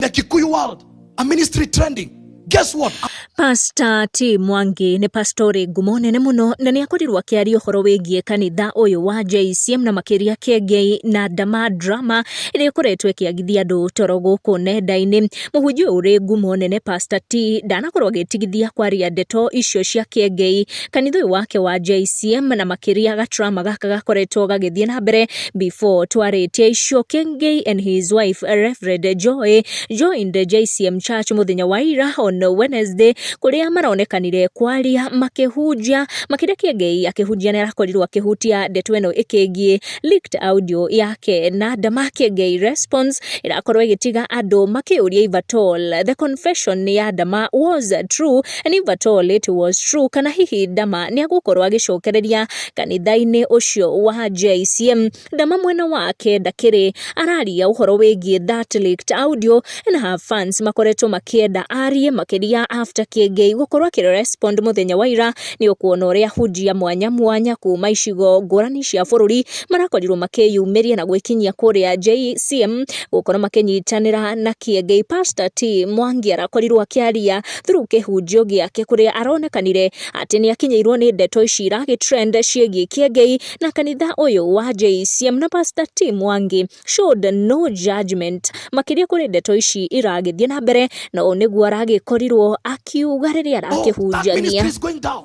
the Kikuyu world, a ministry trending. Guess what? Pasta T Mwangi nĩ pastori ngumo nene mũno na nĩ akorirwo akĩaria ũhoro wĩgiĩ kanitha ũyũ wa JCM na makĩria Kiengei na Ndama Drama ĩrĩa ĩkoretwo ĩkĩagithia andũ toro gũkũ nenda-inĩ. Mũhunjia ũyũ ũrĩ ngumo nene Pasta T ndanakorwo agĩtigithia kwaria ndeto icio cia Kiengei kanitha ũyũ wake wa JCM na makĩria gaturama gaka gakoretwo gagĩthiĩ na mbere before twarĩtie icio Kĩngĩ and his wife Reverend Joy joined JCM Church mũthenya wa ira on Wednesday kũrĩa maronekanire kwaria makĩhunjia makĩria Kĩngĩ akĩhunjia nĩ arakorirwo akĩhutia ndeto ĩno ĩkĩgiĩ leaked audio yake na ndama Kĩngĩ response ĩrakorwo ĩgĩtiga andũ makĩũria if at all the confession ya ndama was true and if at all it was true, kana hihi Ndama nĩ agũkorwo agĩcokereria kanitha-inĩ ũcio wa JCM. Ndama mwena wake ndakĩrĩ araria ũhoro wĩgiĩ that leaked audio and her fans makoretwo makĩenda arie makĩria after Kĩengei gũkorwo akĩ respond mũthenya wa ira nĩ ũkuona ũrĩa hunjia mwanya mwanya kuma icigo ngũrani cia bũrũri marakorirwo makĩyumĩria na gwĩkinyia kũrĩa JCM gũkorwo makĩnyitanĩra na Kĩengei. Pastor T Mwangi arakorirwo akĩaria through kĩhunjio gĩake kũrĩa aronekanire atĩ nĩ akinyĩirwo nĩ ndeto ici iragĩtrend ciĩgiĩ kĩengei na kanitha ũyũ wa JCM na Pastor Tim Wangi showed no judgment makĩria kũrĩ ndeto ici iragĩthiĩ na mbere na ũũ nĩguo aragĩkorirwo akiuga rĩrĩa Oh, that arakĩhunjania ministry is going down.